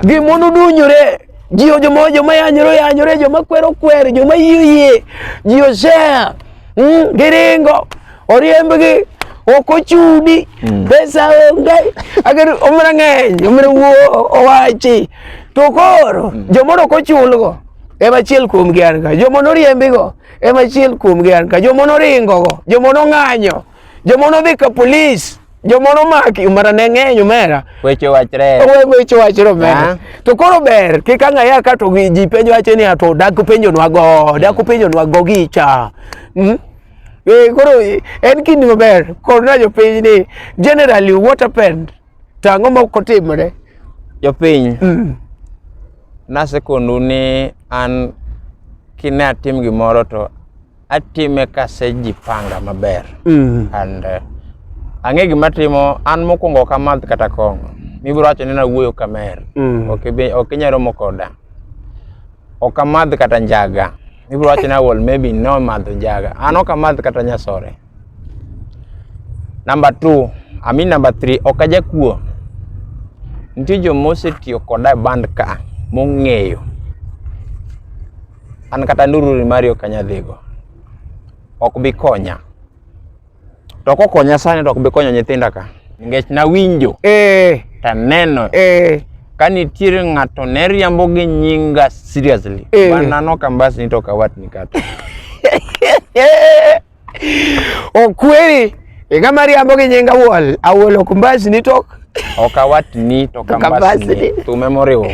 gimono dunyore ji joma joma yanyore yanyore joma kwero kwere joma yie yie ji osea mm, giringo oriembgi ok ochudi mm. pesa onge ager omra ng'eny omra wuo owachi to koro mm. jomoro ok ochulgo ema achiel kuomgi an ka joma noriembigo Ema achiel kuomgi an ka joma noringo go, joma nong'anyo, joma nodhi ka polis, joma nomaki mara ne ng'eny omera. Weche wachre. Owe weche wachre omera. To koro ber kik ang'aya ka to gi- ji penjo wacho ni ato dak penjonwa go, dak penjonwa go gicha. Mm? Eh, koro eh, en kinde maber korna jopiny ni generally what happened To ang'o ma ok otimre? Jopiny, mm. nasekondu ni an kine atim gimoro to atime kasejipanga maber mm. and uh, ang'e gima timo an mokwongo ok amadh kata kong'o mibiro wacho ni nawuoyo kamer mm. ok inyalo romo koda ok amadh kata njaga mibiro wacho ni awol maybe no madho njaga an ok amadh kata nyasore Number two, I mean number three, ok ajakuo. Nitie jo mosetiyo koda e band ka mong'eyo. An kata ndururi mari ok anyal dhigo. Ok bi konya. To kokonya sani to ok bi konyo nyithinda ka. Nikech nawinjo. Eh. Taneno. Eh. Ka nitiere ng'ato ne riambo gi nyinga seriously. Eh. Banano kambas ni to kawat ni kata. Okweri iga mariambo gi nyinga wol awol ok mbasni to Ok awatni to Kambasni. kambasni. Thume moriwowa.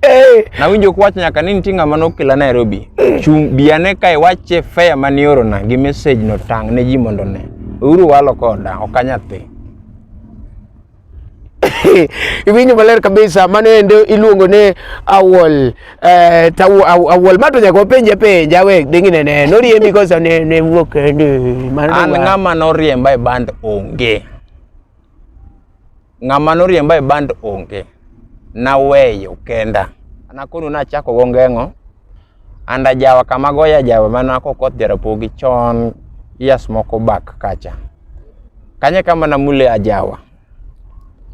Eh, Nawinjo kwach nyaka ni nitie ng'ama nokela Nairobi. Chung' bi ane ka iwache fare mane iorona gi message no tang' ne ji mondo one. Uru walo koda, ok anyathi. iwinjo maler kabisa mano ende iluongo ni awol eh, tawu aw- awol ma to nyaka wapenje penja we dingine ne noriembi kosa ne ne wuok kende mano an wa- ng'ama noriemba e band onge ng'ama noriemba e band onge naweyo kenda nakono nachako go ngeng'o and ajawa kama goyo ajawa mana kokoth jarapogi chon years moko back kacha kanye kama namule ajawa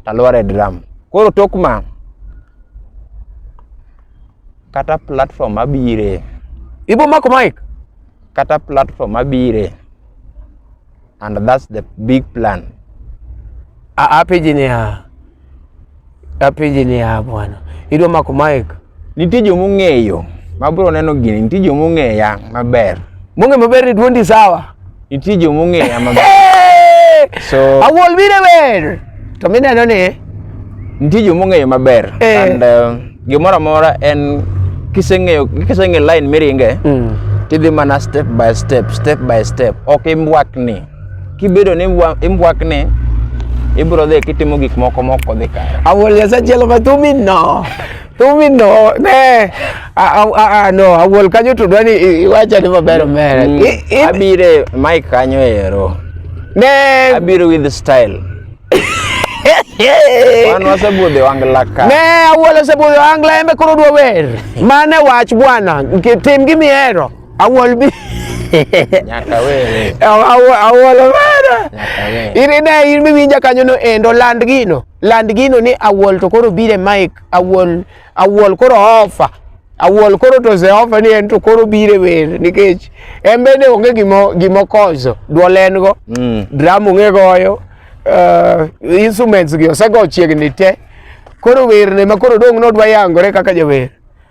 talware drum koro tok ma kata platform abire ibo mako mic kata platform abire and that's the big plan. Apeji ni ha apeji ni ha bwana, idwa mako mic. Nitie joma ong'eyo ma bro neno gini, nitie joma ong'eya maber. Mong'e maber ni duondi sawa. Nitie joma ong'eya maber. So, awol bire ber. To mineno ni nitie joma ong'eyo maber eh. and uh, gimoro amora en kiseng'eyo kiseng'e line miringe mm. tidhi mana step by step step by step ok imbwakni kibedo ni imbwakni ibro dhi kitimo gik moko mok odhi kare awol nyasachielo matumi no Tumi no, ne. Ah, ah, ah, no, awuol kanyo to dwani iwacha ni maber omera. Mm, I- i- abire mike kanyo ero Ne, abiro with style wan wasebudhe wang laka ne awuol osebudho angla embe koro dwa wer. Mane wach bwana, nke- tim gi mihero. Awuol bi. nyaka were Aw- aw- Awuol omera. nyaka were In ne in miwinja kanyo no endo land gino. land gino ni awol to koro bire mic awol awol koro ofa awol koro to ze ofa ni en to koro bire wer nikech en bende onge gimo gimo kozo duol en go mm. drum onge goyo uh, instruments gi osego chiegni te koro wer ne ma koro dong nodwa yangore kaka jawer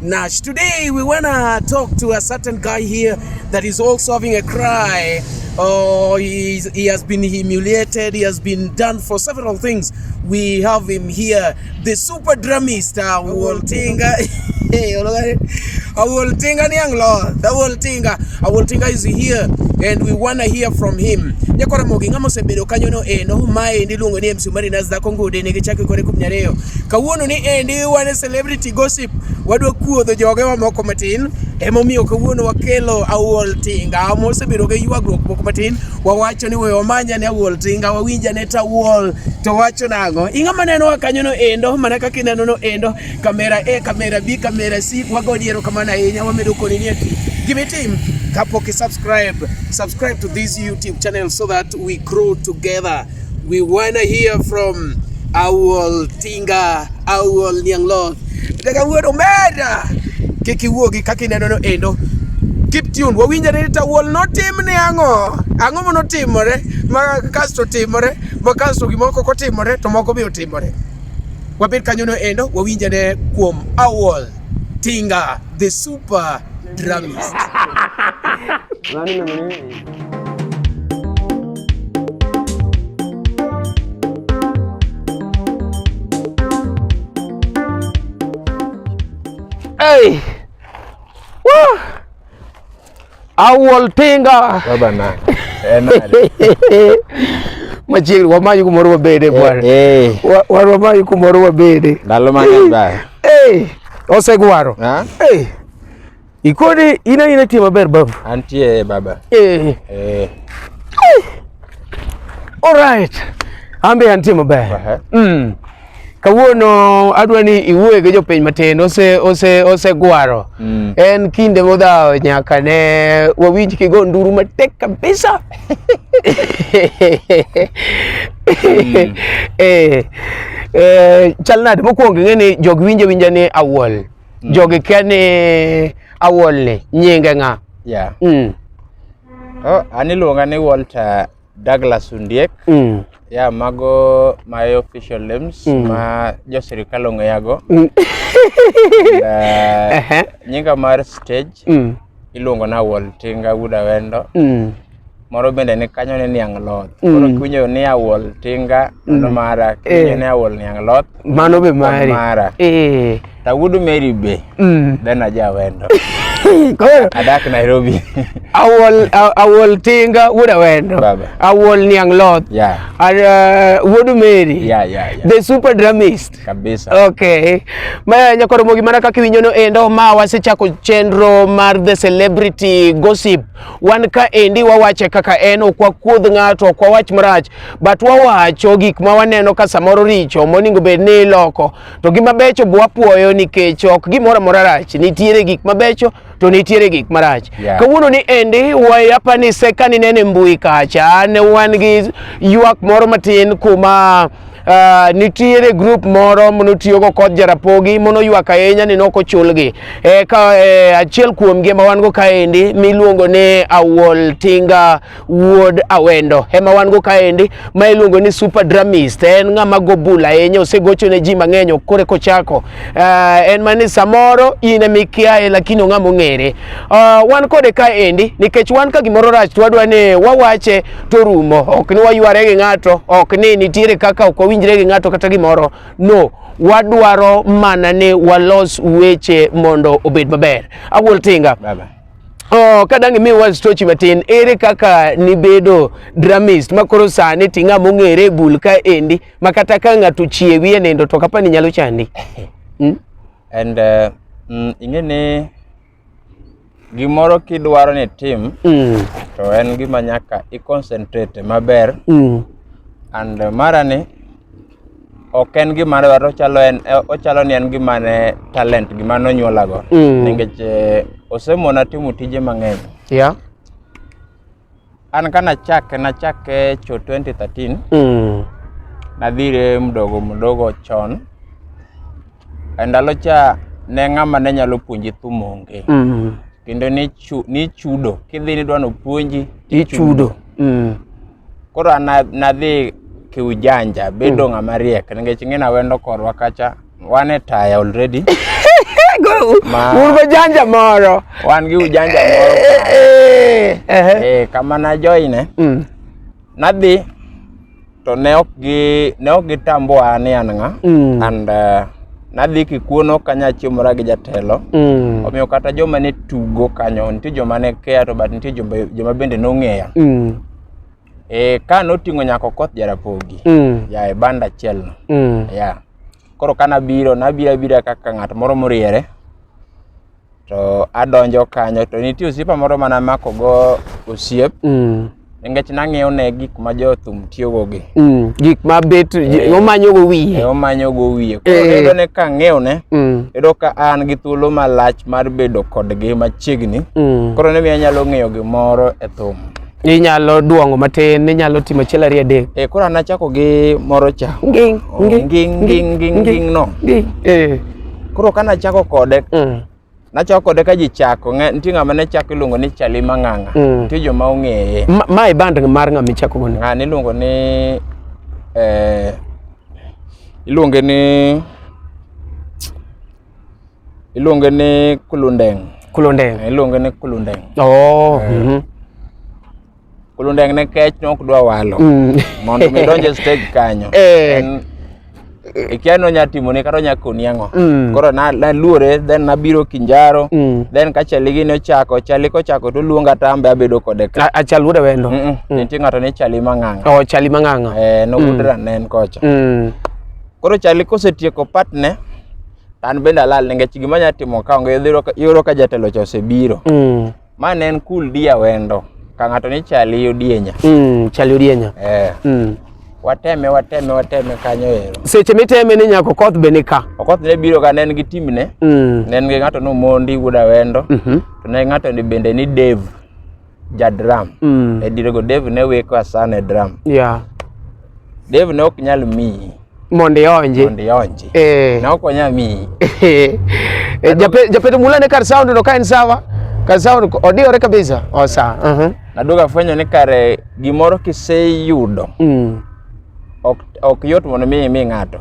Nash. Today we wanna talk to a certain guy here that is also having a cry. Oh, he, he has been humiliated, he has been done for several things. We have him here, the super drummist, uh, Woltinga. Awoltinga Nianglo, the Woltinga. Awoltinga is here and we wanna hear from him. Nyakora mogi ngamo sebedo kanyo no eno eh, mae ni lungo ni MC Marinas da Kongo de ne gichaki kore kumnyareyo. Kawuono ni endi eh, wane celebrity gossip wadwa kuodho joge wa moko matin emomiyo kawuono wakelo awuol tinga mosebedo gi ywagruok moko matin wawacho ni we wamanya ne awuol tinga wawinja ne tawuol to wacho nang'o ing'a maneno wa kanyo no endo mana kaka ineno no endo kamera e kamera b kamera c wago diero kamano ahinya wamedo koni ni ati gimitim kapok i subscribe subscribe to this youtube channel so that we grow together We wanna hear from Awol Tinga, Awol Nianglok. Daga wuod omera. Kik iwuogi kaka inenono endo. Keep tuned. Wawinjore ni Awol notimne ang'o? Ang'o ma notimore? Ma kasto timore, ma kasto gimoko kotimore to moko biro timore. Wabed kanyono endo, wawinjore kuom Awol Tinga, the super dramist. Hey! Woo! Awol Tinga. Baba na. Machiegni wamayi kumoro wabede bwana. Eh. Wan wamayi kumoro wabede. Ndalo mang'eny baya. Eh. Osegwaro. Eh. Ikodi ina ina tie maber babu. Antie baba. Eh. Eh. All right. Ambe antie maber. Uh -huh. Mm. Kawuono adwa ni iwuoye gi jopiny matin ose ose ose gwaro. Mm. En kinde modhawo nyaka ne wawinj kigo nduru matek kabisa. mm. Eh. Eh, chal nade mokwongo ing'e ni jog winje winja ni awuol. mm. jogi kia ni awolni nyinge ng'a yeah. mm. oh, an iluonga ni Walter Douglas Undiek mm. yeah, mago my official names mm. ma jo sirikal ong'eyago mm. uh, nyinga mar stage mm. iluongo na Awol Tinga Wuod Awendo. Mm. Moro bende ni kanyo ni Niang' Loth. Mm. Koro kiwinjo ni Awol Tinga mano mm. mara, kiwinjo eh. ni Awol Niang' Loth. Mano be mari. Mara. Eh. Ta Wuod Mary be. Mm. Then aja Awendo. Koro adak Nairobi. Awol Awol Tinga Wuod Awendo. Baba. Awol Niang' Loth. Yeah. Ar, uh, Wuod Mary. Yeah, yeah, yeah. The super dramist. kabisa. Okay. Ma nyakoro mogi mana kaka iwinjo no endo ma wasechako chenro mar the celebrity gossip. Wan ka endi wawache kaka en ok wakuodh ng'ato ok wawach marach but wawacho gik ma waneno ka samoro richo moningo bed ni iloko. To gima becho bwapuoyo nikech ok gimoro amora rach. Nitiere gik mabecho to nitiere gik marach yeah. kawuono ni endi wayapanise ka nineno e mbui kacha ne wan gi ywak moro matin kuma Uh, nitiere group moro monotiyogo kod jarapogi monoywak ahinya ni nok ochulgi e, ka, e, achiel kuomgi ma wan go kaendi miluongo ni Awol Tinga Wuod Awendo ema wan go kaendi ma iluongo ni Super Dramist. En ng'ama go bul ahinya, osegocho ne ji mang'eny kore kochako. Uh, en mani samoro in ema ikiaye lakini ong'ama ong'ere. Uh, wan kode kaendi nikech wan ka gimoro rach to wadwa ni wawache to rumo. Ok ni wayware gi ng'ato, ok ni nitiere kaka ok wawinjre gi ng'ato kata gimoro. No, wadwaro mana ni walos weche mondo obed maber. Awuol Tinga. Bye bye. Oh, ka dang' imiwa stochi matin ere kaka nibedo dramist ma koro sani ti ng'ama ong'ere e bul ka endi ma kata ka ng'ato chiewi e nindo to kapa ni nyalo chandi mm? and uh, mm, ing'e ni gimoro kidwaro ni tim mm. to en gima nyaka i concentrate maber mm. and uh, marani ok en gima ne dwaro ochalo en eh, ochalo ni en gima ne talent gima ne onyuolago Mm. nikech eh, osemona timo tije mang'eny Yeah. an ka nachake nachake cho 2013 Mm. nadhire mdogo mdogo chon e ndalo cha ne ng'ama ne nyalo puonji thum onge Mm. kendo nichu- nichudo kidhi nidwa nopuonji Ichudo. Mm. Koro an na- nadhi kiujanja bedo ng'ama riek nikech ing'ena wendo korwa kacha wan e taya already Ma- un bajanja moro wan gi ujanja moro Eh, ehe. eh, kama najoine Mm, nadhi to ne ok gi ne ok gitamboa ni an ng'a mm. and uh, nadhi kikuono kanyachiomora gi jatelo mm. omiyo kata joma ne tugo kanyo nitie joma ne keya to but nitie joma bende nong'eya mm. e, ka noting'o nyako koth jarapogi mm. ya e banda achielno mm. ya koro ka nabiro nabiro abira kaka ng'at moro moriere to adonjo kanyo to nitie osiepa moro mana mako go osiep mm. nikech nang'iyo ne gik ma jothum tiyogo gi mm. gik ma bet eh. omanyo go wiye eh, omanyo go wiye koro eh. yudo ne ka ng'eyo ne mm. yudo ka an gi thuolo malach mar bedo kodgi machiegni koro ne miyo anyalo ng'eyo gimoro e thum inyalo duongo matin inyalo timo achiel ariyo adek eh koro an achako gi moro cha nging Oh, nging nging nging nging nging no nging eh koro ka nachako kode mm, nachako kode ka ji chako ng'e- nitie ng'ama ne chako iluongo ni chali mang'ang'a Mm. nitie joma ong'eye ma- ma e band mar ng'ama ichako gono ng'ani iluongo ni eh, iluonge ni Iluonge ni kulundeng. Kulundeng. Eh, iluonge ni kulundeng. Oh. Eh. Mhm. Kulundeng ne kech ne ok dwa walo. Mm. Mondo mi donje stage kanyo. Eh. En ikia no nya timo ni kata nya koni ango mm. koro na na luore then na biro kinjaro mm. then ka chali gi no chako chali ko chako to luonga tambe abedo kode ka a chal wude wendo mm -mm. mm. tinga to ne chali manganga o oh, chali manganga eh no mm. wudra nen kocha mm. Koro chali kosetieko patne to an bende alal nikech gima nya timo ka onge idhi yudo ka- iyudo ka jatelo cha osebiro. Mm. Ma ne en cool dia wendo. Ka ng'ato ni chali odienya. Mm. Chali odienya. Eh, Mm. wateme wateme wateme kanyo ero. Seche miteme ni nyako koth be nika. Okoth ne biro ka ne en gi timne, Mm. ne en gi ng'ato ni Omondi wuod Awendo, Mhm. to ne ng'ato ni bende ni Dave. ja drum Mm. e dirego Dave ne weko asana e drum Yeah. Dave ne ok nyal miyi Mondo ionji. mondo ionji Eh. ne ok onyal miyi Eh, jape- Japeto Mula ne kar sound no ka en sawa. Kar sound ko- odiyore kabisa. Osa. Mhm. naduogo afwenyo ni kare gimoro kiseyudo Mm. ok ok yot mondo mi mi ng'ato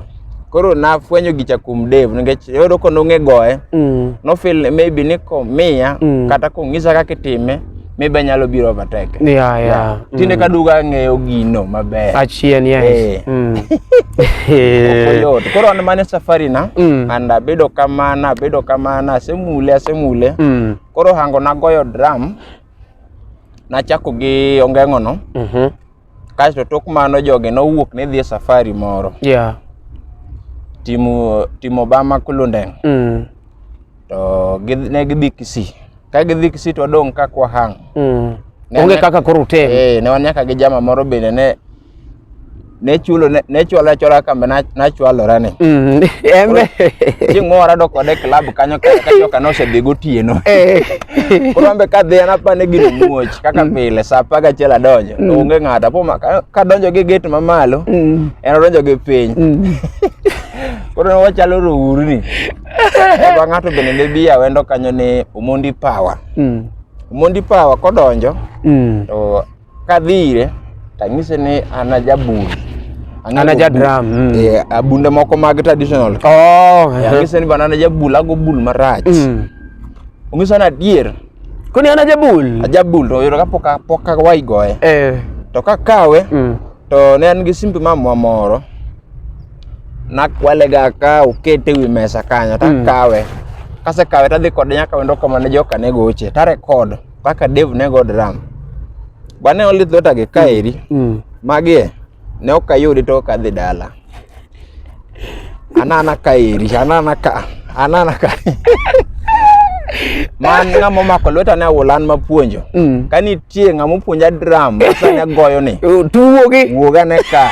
koro nafwenyo gicha kuom Dave nikech yudo ko nong'e goye Mm. no feel maybe ni komiya Mm. kata kong'isa kaka itime maybe anyalo biro overtake Yeah, yeah. tinde Mm. kaduga ang'eyo gino maber Achien, yes. Eh. Mm. Eh. Oyot. koro an mane safari na Mm. and abedo kamana abedo kamana asemule asemule Mm. koro hango nagoyo drum nachako gi ongeng'ono Mhm. Kasto tok mano jogi nowuok ne dhi e safari moro. Yeah. Timo timo Bama Kulundeng. Mm. To gidhi ne gidhi Kisii. Ka gidhi Kisii to dong ka kwa hang. Mm. Onge kaka koro utem. Eh, ne wan nyaka gi jama moro bende ne ne chulo ne chwala chwala kambe na na chwalora ni mm embe chingora do kode club kanyo kanyo kanosedhi gotieno eh Koro ambe ka dhian apane gino muoch kaka mm. pile sa apar gachiel adonjo mm. onge ng'ato apo kadonjo gi gate mamalo mm. en odonjo gi piny koro ne wachalo rourni eba ng'ato bende ne bi awendo kanyo ni Omondi Power Omondi Power kodonjo to Kadhi ire tanyise ni an ajabul. Ang'e An aja go bul- drum, mm. Eh, abunde moko mag traditional. Oh, Eh, Anyise ni bana an ajabul, ago bul marach. mm. Ong'iso ni adier, Koni an ajabul. ajabul to oyudo kapok a- pok awayi goye. Eh. To kakawe Mm. to ne an gi simbe mamwa moro nakwalega ka okete wi mesa kanyo takawe kasekawe tadhi kode nyaka wendo kama ne joka ne goche tarekod Paka Dev ne go drum. Bane oli thota gi kaeri. Mm. mm. Magie ne ok ayudi to ok adhi dala. Anana kaeri, anana ka, anana ka. man ng'ama omako lweta ne awulan mapuonjo mm. ka nitie ng'ama opuonja dram masane goyo ni tuwogi wuogane ka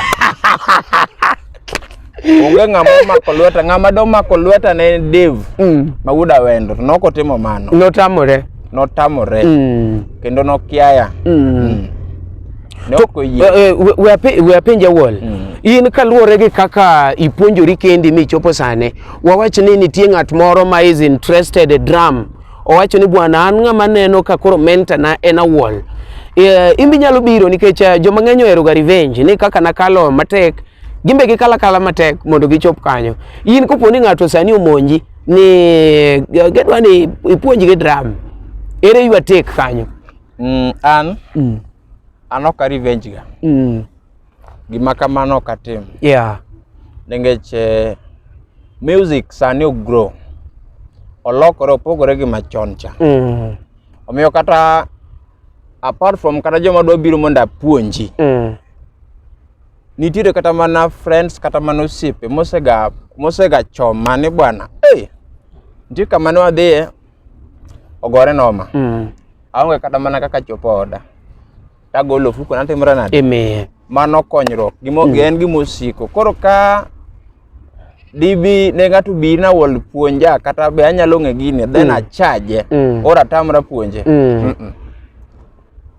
onge ng'ama omako lweta ng'ama domako lweta ne en Dave Mm. ma wuod awendo to nok otimo mano Notamore. notamore Mm. kendo nokiaya Mm. ne To, ok oyie eh, eh, we- we ape- we apenj awol Mm. in kaluwore gi kaka ipuonjori kendi michopo sane wawach ni nitie ng'at moro ma is interested e drum owacho ni bwana an ng'ama neno ka koro menta na en awol Eh, in be inyalo biro nikech eh, joma ng'eny oheroga revenge ni kaka nakalo matek gin be gikala kala matek mondo gichop kanyo in kopo ni ng'ato sani omonji ni gedwa ni ipuonjgi dram ere ywa tek kanyo mm, an mm. an ok arevenge ga mm. gima kamano ok atim yeah. nikech eh, music sani ogrow olokore opogore gi machon cha mm. omiyo kata apart from kata joma dwa biro mondo apuonji mm. Nitiere kata mana friends kata mana osiepe mosega mosega choma ni bwana. Hey, nitie kama ne wadhiye ogore noma. Mm. Aonge kata mana kaka chopo oda. Tagolo ofuko natimra nade? Amen. Mano konyruok. Gimo mm. en gima osiko. Koro ka dibi ne ng'ato bi na wol puonja kata be anyalo ng'e gini then mm. achaje mm. ora tamra puonje mm. Mm -mm.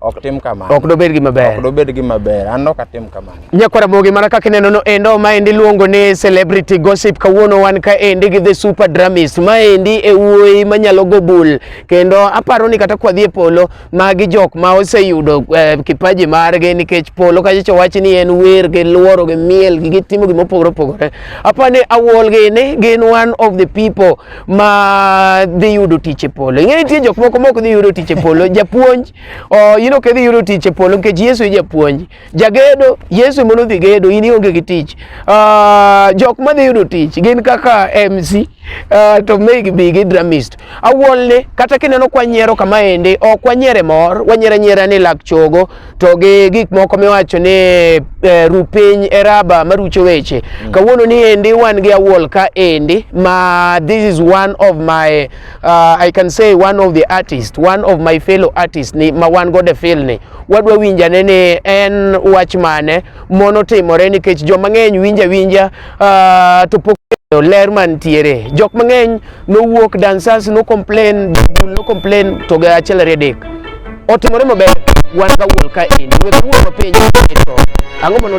ok tim kamano ok dobed gima ber ok dobed gima ber an ok atim kamano nyakwara mogi mana kaka ineno no endo ma endi luongo ni celebrity gossip kawuono wan ka endi gi the super dramis ma endi e wuoyi manyalo go bul kendo aparo ni kata kwadhi e polo magi jok ma oseyudo eh, kipaji margi nikech polo kachicho wach ni en wer gi luoro gi miel gi gitimo gima opogore opogore apani awuol gini gin one of the people ma dhi yudo tich e polo. Ing'e nitie jok moko mok dhi yudo tich e polo. Japuonj, oh, in ok idhi yudo tich e polo nikech Yesu e japuonj. Jagedo, Yesu mondo dhi gedo, in ionge gi tich. Uh, jok ma dhi yudo tich gin kaka MC, uh, ah, to meg bi gi dramist. Awolne, kata kineno kwanyiero kama ende, ok wanyiere mor, wanyiere nyiera ni lak chogo. to gi gik moko miwacho ni eh, ru piny e raba marucho weche mm. kawuono ni endi wan gi awuol ka endi ma this is one of my uh, I can say one of the artist one of my fellow artist ni ma wan go de feel ni wadwa winjane ni en wach mane Mono timore nikech joma ng'eny winja winja uh, to pok ler mantiere jok mang'eny nowuok dancers no complain no complain to ga achiel ariyo adek otimore maber wan ka wuol ka in wuol mapenjo ang'o mano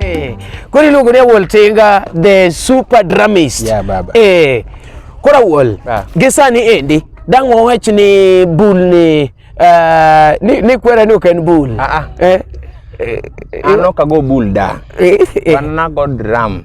Eh, koro iluongo ni awol tinga the super dramist Yeah, baba. eh, koro awol Ah. gi sani endi dang' wawach ni bul ni ah, ni ni kwera ni ok en bul Ah, ah. Eh, eh, An ok ago bul da. eh, eh. An nago drum.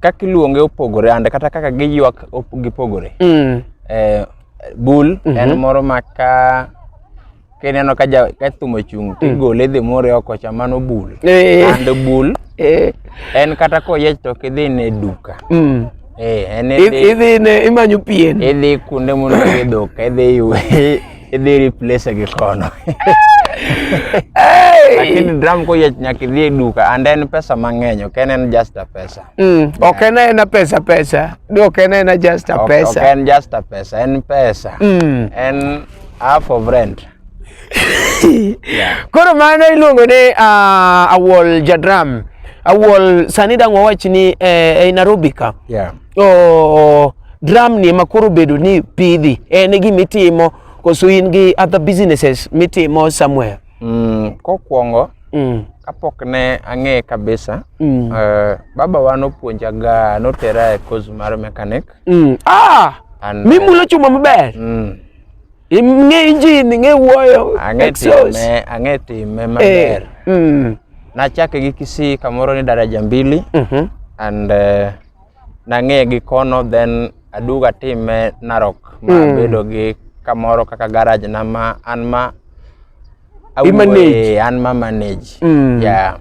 kaka iluonge opogore ande kata kaka giywak gipogore mm. eh, bul mm -hmm. en mhm. moro ma ka kineno ka ka thum ochung' to mm. igole dhi more oko cha mano bul eh. and bul eh. en kata koyiech to ok idhi ne duka mm. eh, idhi ne imanyo pien idhi kuonde mondo idhi duka idhi ywe Idhi replace gi kono. Lakini drum ko yech nyaka idhi e duka and en pesa mang'eny ok en en just a pesa. Mm, ok en en pesa pesa. Do ok en en just a pesa. Ok en just a pesa, en pesa. Mm. En half of rent. yeah. Koro mano iluongo ni uh, ah, awol jadram. Awol sani dang' wawach ni eh, ei Nairobi ka. Yeah. oh, drum ni ema koro bedo ni pidhi en e gima itimo koso in gi other businesses mitimo somewhere mm, kokwongo mm. kapok ne ang'eye kabisa mm. uh, baba wa nopuonja ga notera e course mar mechanic mm. ah! And, mimulo eh, chuma maber mm. ing'e injin ing'e wuoyo ang'e time ang'e time eh, maber eh. mm. nachake gi kisii kamoro ni daraja mbili mm -hmm. and uh, nang'e gi kono then aduogo atime Narok ma Mm. abedo gi kamoro kaka garage na ma an ma awuoye, manage. an ma manage Mm. yeah.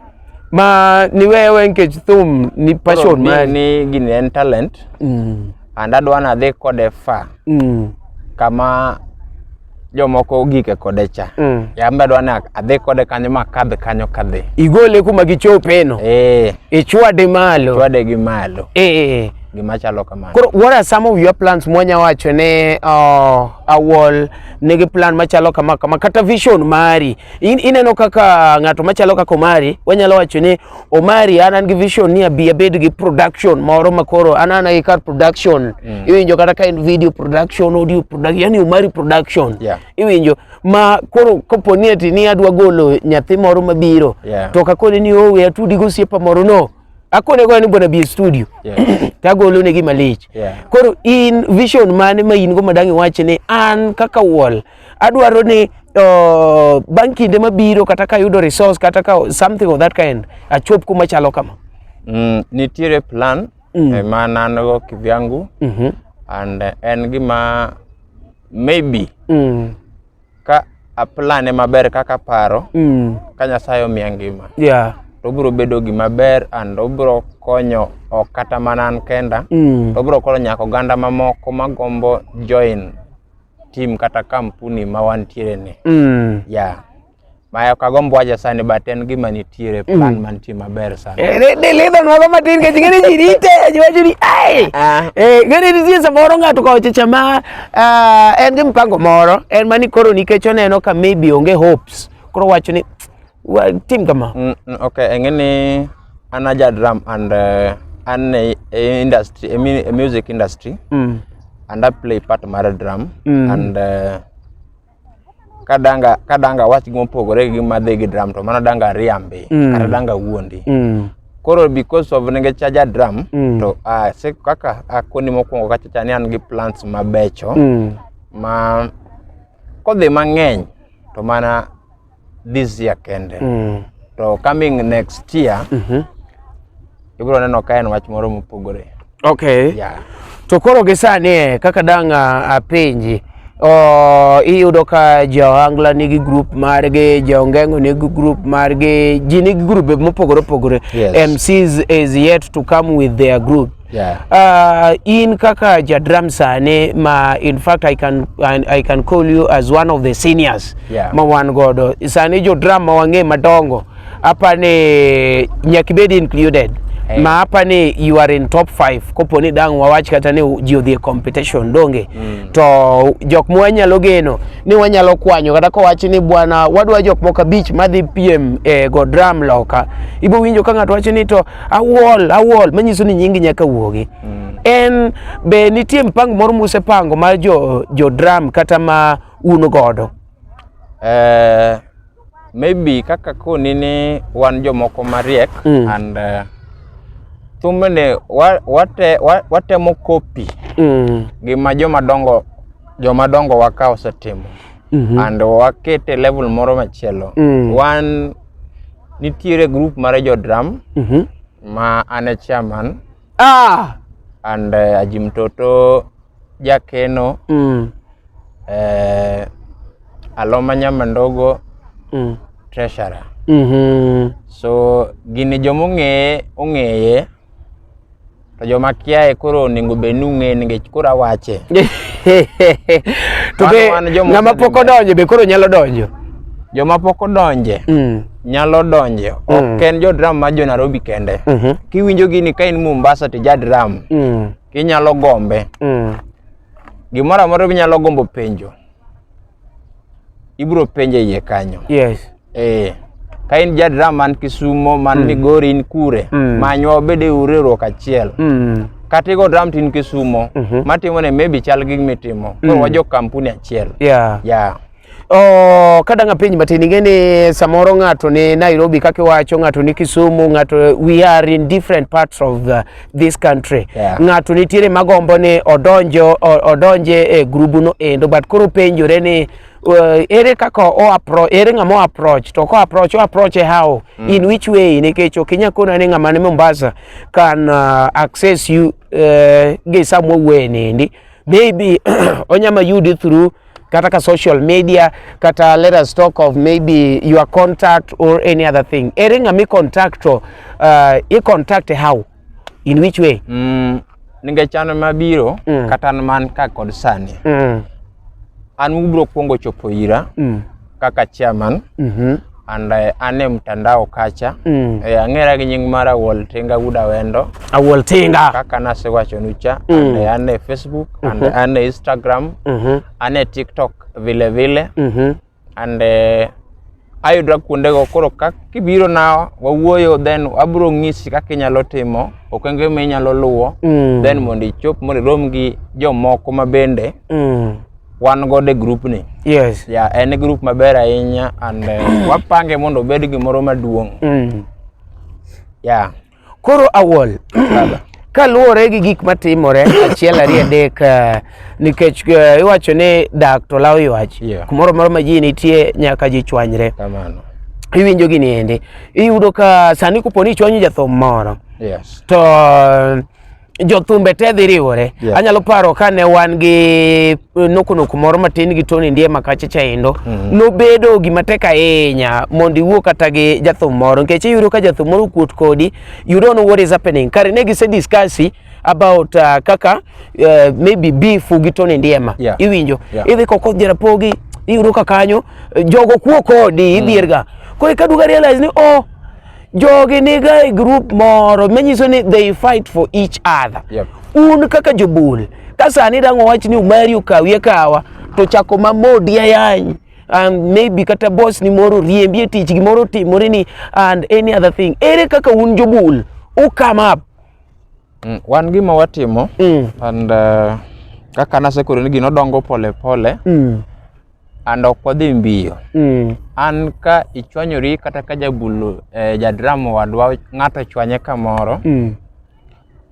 Ma ni wewe nikech thum ni passion Koro ma. ni, ni gini en talent Mm. and adwa nadhi kode far Mm. kama jomoko gike kode cha mm. yamba dwa na adhi kode kanyo ma kadhi kanyo kadhi igole kuma gichope no eh ichwade malo chwade gi malo eh gima chalo kamano koro what are some of your plans mwanya wacho ne uh, awol nigi plan machalo kama kama kata vision mari In, ineno kaka ng'ato machalo kaka omari wanyalo wacho ni Omari an an gi vision ni abi abed gi production moro ma koro an an ai kar production mm. iwinjo kata ka en video production audio production yani Omari production yeah. iwinjo ma koro kapo ni ati ni adwa golo nyathi moro mabiro yeah. to kakone ni owe atudi gosiepa moro no akone go ni bwana bi studio yeah. tagolo ne gi malich yeah. koro in vision mane ma in go madangi wache ni an kaka wall adwaro ni uh, bang' kinde mabiro kata ka yudo resource kata ka something of that kind achop kuma chalo kama mm, nitiere plan mm. eh, ma nango kivyangu mm -hmm. and uh, en gima maybe mm. ka aplane maber kaka paro mm. ka nyasaye omiya ngima yeah. to obiro bedo gima ber and obiro konyo ok kata mana an kenda mm. to obiro konyo nyaka oganda mamoko magombo join tim kata kampuni ma wantiere ni mm. yeah. Maya kagombo waja sani but en gima nitiere mm. plan mm. mantie maber sana. Eh, ne ne le don mago matin ke jingene ji rite ajiwaji ni ai. Ah. Eh gani ni sisi moro ngatu kwa ochicha ma uh, en gi mpango moro en mani koro nikech oneno ka maybe onge hopes. Koro wacho ni Wa tim kama. Mm, mm, okay, engene an aja drum and uh, an a, a industry a, a music industry mm. and I play part mar drum mm. and uh, kadanga kadanga wach gima opogore gi madhi gi drum to mano danga riambi mm. kata danga wuondi mm. koro because of nenge chaja drum mm. to uh, se kaka akoni mokwongo kachacha ni an gi plants mabecho mm. ma kodhi mang'eny to mana this year kende mm. to coming next year mm -hmm. ibiro neno ka en wach moro mopogore okay yeah. to koro gi sani eh, kaka dang' ah, apenji oh, iyudo ka jaohangla nigi grup margi jaongengo nigi grup margi ji nigi grube mopogore opogore yes. mcs is yet to come with their group Yeah. Uh, in kaka jadram sane ma in fact I can, I, I can call you as one of the seniors yeah. ma wan godo sani jodram ma wang'e madongo apa ni nyakibed included Hey. ma apa ni you are in top 5 kopo ni dang wawach kata ni ji odhi e competition donge mm. to jok ma wanyalo geno ni wanyalo kwanyo kata kowach ni bwana wadwa jok moko abich madhi piem e eh, go dram loka ibo winjo ka ng'ato wacho ni to awol awol manyiso ni nyingi nyaka wuogi mm. en be nitie mpango moro musepango mar jo, jo dram kata ma un godo uh, maybe kaka koni ni wan jomoko mariek mm. and uh, eh, thumbene wate, watemo kopi mm. gima jomadongo jomadongo waka osetimo mm -hmm. and wakete level moro machielo mm. wan Nitiere group mare jo drum mm -hmm. ma an e chairman ah! and uh, eh, Ajim Toto Jakeno mm. uh, Aloma Nyama Ndogo mm. treasurer mm -hmm. so gini jomong'eye ong'eye To joma kiaye koro onego bed ni ung'e nikech koro awache. to be ng'ama pok odonjo be koro nyalo donjo joma pok odonje mm. nyalo donje mm. ok en jo drum ma jo Nairobi kende mm -hmm. kiwinjo gini ka in Mombasa to ja drum mm. kinyalo gombe mm. gimoro amoro ginyalo gombo penjo ibro penje iye kanyo yes eh ka in jadra man kisumo man mm. migori in kure mm. manywa wabede uriwruok achiel mm. kata igo dram tin kisumo mm -hmm. matimo ne maybe chal gi mitimo mm. koro wajo kampuni achiel yeah. Yeah. Oh, kada nga penj matin ingeni samoro ng'ato ni Nairobi kaka iwacho ng'ato ni Kisumu ng'ato we are in different parts of the this country yeah. ng'ato nitiere magombo ni odonjo odonje e grubuno endo but koro penjore ni uh, ere kaka o approach ere ng'ama o approach to ko approach o approach e how mm. in which way nikech ok inyal kona ni ng'ama ni Mombasa can uh, access you uh, gi samwa wenendi maybe onyama yudi through kata ka social media kata let us talk of maybe your contact or any other thing ere ng'ami contact to uh, i contact how in which way mm, ninge chano mabiro mm. kata man ka kod sani mm. an ubro kwongo chopo ira mm. kaka chairman mm -hmm. and uh, ane mtandao kacha mm. e, eh, ang'era gi nying mara Woltinga Guda Wendo Awoltinga kaka nasewachonu cha mm. and uh, ane Facebook mm -hmm. and mhm. ane Instagram mm -hmm. ane TikTok vile vile mm -hmm. and uh, ayudra kuondego koro ka kibiro na wawuoyo then abro ng'isi kaka inyalo timo okenge ma inyalo luwo mm. then mondo ichop mondo irom gi jomoko ma bende mm. wan godo e group ni yes yeah, en e group maber ahinya and uh, wapange mondo obed gimoro maduong' mm. yeah. koro awol kaluwore gi gik matimore achiel ariyo adek eh, nikech eh, iwacho ni dak to lawo ywach yeah. kumoro moro ma ji nitie nyaka ji chwanyre iwinjo gini endi iyudo ka sani koponi ichwanyo jathum moro yes. to jothumbe te dhi riwore yeah. anyalo paro kane wan gi eh, nokonoku moro matin gi Tony ndiye makache chaindo mm -hmm. nobedo gima tek ahinya mondo iwuo kata gi jathum moro nikech iyudo ka jathum moro kuot kodi you don't know what is happening kare ne gise discussi about uh, kaka uh, maybe beef gi Tony Ndiema yeah. iwinjo yeah. idhi koko jarapogi iyudo ka kanyo eh, jogo kuo kodi mm. idhierga mm. koro ikaduga realize ni oh jogi niga e group moro manyiso ni they fight for each other yep. un kaka jobul ka sani dang' owach ni umari okawi akawa to chako mamodi ayany um, maybe kata boss ni moro riembi e tich gimoro timore ni and any other thing ere kaka un jobul u come up mm, wan gima watimo mm. and uh, kaka nasekoro ni gino dongo pole pole mm. and ok wadhi mbiyo mm. an ka ichwanyori kata ka jabulu eh, jadrama wadwa ng'ato chwanye kamoro mm.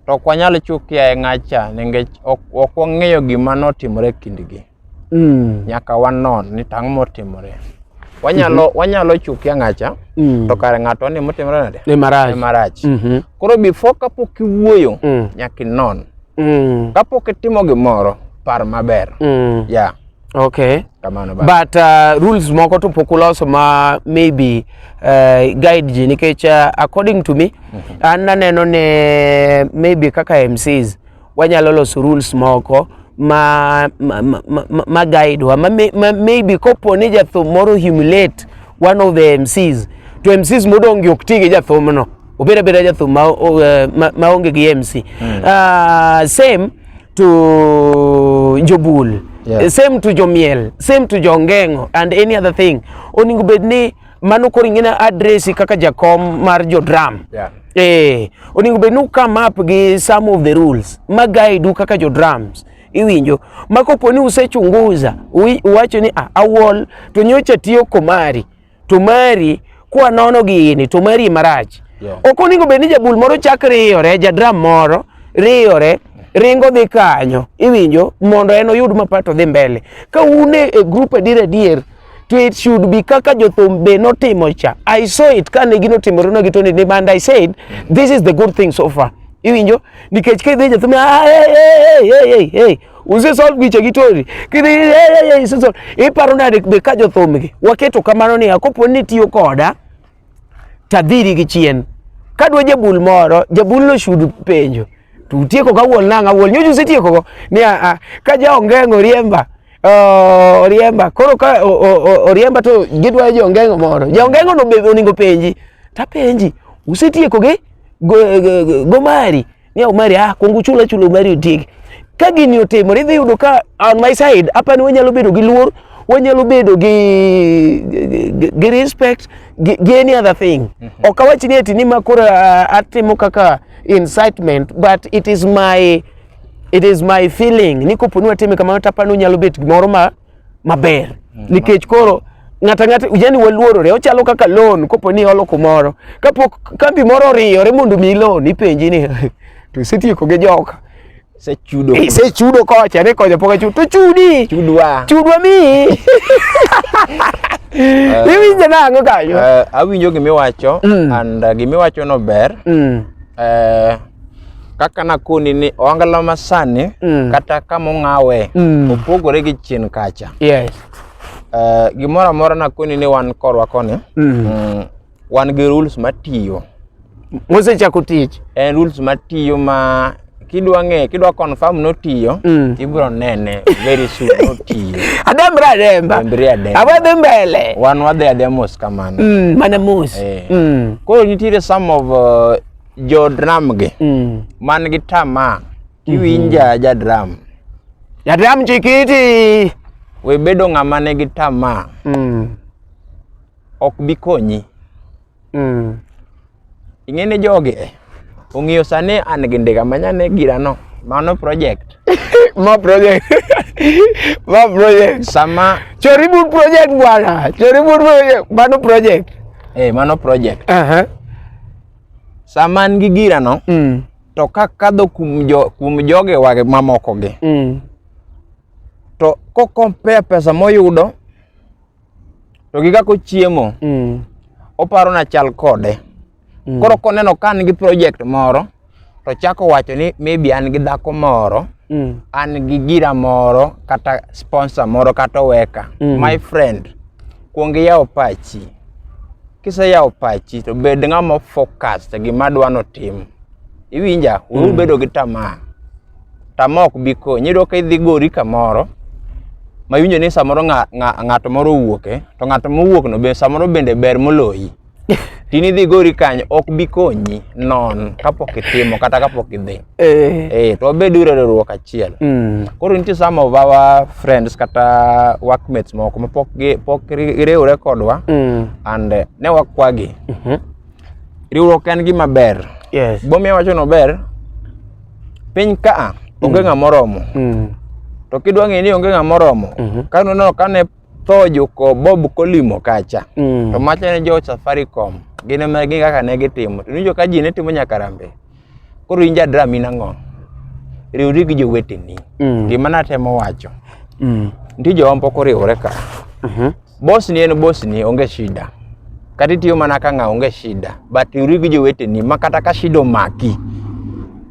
to ok wanyal chukia e ng'acha nikech ok wang'eyo gima notimore kindgi mm. nyaka wanon ni tang' motimore wanyalo mm -hmm. wanyalo chukia ng'acha mm. to kare ng'ato ni motimore nade ni marach, ni marach. Mm -hmm. koro before kapok iwuoyo mm. nyaka inon mm. kapok itimo gimoro par maber mm. yeah Okay. Kamano ba. But uh, rules moko to pok uloso ma maybe uh, guide ji nikech uh, according to me mm -hmm. an naneno ne maybe kaka MCs wanyalo loso rules moko ma, ma, ma, ma, ma guide wa ma, ma, maybe kopo ni jathum moro humiliate one of the MCs to MCs modongi ok ti gi jathumno obeda beda jathum ma eh, maonge gi MC mm. uh, same to jobul yeah. Eh, same to jomiel same to jongengo and any other thing oningo bed ni mano koro ing'e address kaka jakom mar jodram yeah. eh, oningo bed ni ukam up gi some of the rules ma guide u kaka jodrams iwinjo ma kopo ni usechunguza uwacho ni ah, awol to nyocha tiyo komari to mari kwa nono gini to mari marach yeah. ok oningo bed ni jabul moro chak riyore jadram moro riyore ringo dhi kanyo iwinjo mondo en oyud mapato dhi mbele ka une e group adier adier to it should be kaka jothum be notimo cha i saw it kane gino timore no gitoni ni and i said this is the good thing so far iwinjo nikech ka idhi jothum ah, hey, hey, hey, hey, hey. Use solve giche gitori. Kidhi eh, eh, eh, use solve. Iparo nade be ka jothumgi waketo kamano ni akopo ni tiyo koda tadhiri gi chien. Kadwa jabul moro, jabul no shudu penjo. Tu tieko ka wuol nanga wuol nyoju se tieko go. Ni a, a ka ja ongengo riemba. Uh, oriemba koro ka oriemba to gidwa jo ongengo moro. Ja ongengo no be oningo penji. Ta penji. Use tieko ge go, go, go, go mari. ni omari ah kuongo chula chula omari otieki ka gini otimore idhi yudo ka on my side apani wanyalo bedo gi luor wanyalo bedo gi gi- gi respect gi, gi any other thing ok awach ni eti ni ma koro ah, atimo kaka incitement but it is my it is my feeling ni koponi watime kamano tapani unyalo bet gimoro ma maber mm. nikech koro ng'ato ang'ata yani waluorore ochalo kaka loan kopo ni iholo kumoro kapok kambi moro oriyore mondo mi loan ipenji ni to isetieko gi joka sechudo eh, sechudo kocha ne kocha pok achudo to chudi chudwa chudwa mi uh, iwinjo nang'o kanyo uh, awinjo gimiwacho mm. and uh, gimiwacho no ber mm. uh, kaka nakoni ni ohangla masani mm. kata kama ong'awe mm. opogore gi chien kacha yes. uh, gimoro amora nakoni ni wan korwa koni mm. mm, wan gi rules matiyo mosechako tich en rules matiyo ma kidwa ng'e kidwa confirm notiyo mm. ibro nene very soon notiyo adembre ademba dembre ademba awadhi mbele wan wadhi ademos kamano mm, mana mos eh. mm. koro nitiere some of uh, jo dram gi mm. man gi tamaa kiwinja mm -hmm. ja dram ja dram chikiti we bedo ng'ama ne gi tamaa mm. ok bi konyi mm. ing'e ni jogi eh, ong'iyo sani an gi ndiga manyane girano mano project ma project ma project sama choribur project bwana choribur project mano project eh mano project uh -huh. sama an gi girano mm. to kakadho kuom jo, kuom joge wage mamoko gi mm. to kokompea pesa moyudo to gi kako chiemo mm. oparo na chal kode mm. koro koneno ka an gi project moro to chako wacho ni maybe an gi dhako moro mm. an gi gira moro kata sponsor moro kata oweka mm. my friend kuong iyawo pachi Kiseyawo pachi to bed ng'ama focus e gima dwa notim. Iwinja? Uru mm. bedo gi tamaa. Tamaa ok bi konyi. Iyudo ka idhi gori kamoro ma iwinjo ni samoro ng'ato moro owuoke to ng'ato mowuokno be samoro bende ber moloyi. Tini dhi gori kanyo ok bi konyi non kapok itimo kata kapok idhi. Eh. Eh, to wabed uru e riwruok achiel. Mm. Koro nitie some of our friends kata workmates moko ma pok gi pok ri- giriwre kodwa Mm. and eh, ne wakwagi. Mhm. Riwruok en gima ber. Yes. Gimomiyo awacho ni ober, piny ka onge ng'ama oromo. Mm. To kidwa ng'eyo ni onge ng'ama oromo, Mhm. ka noneno kane tho juko Bob Kolimo kacha. Mm. To macha ne jo Safaricom, gin ema gin kaka ne gitimo. To nijo ka ji ne timo nyaka rambe. koro in jadram in ang'o riwri gi joweteni mm. gima natemo wacho mm. nitie jowa mpok oriwore ka mm-hmm. bos ni en bos ni onge shida kata itiyo mana ka ng'a onge shida but riwri gi joweteni ma kata ka shida omaki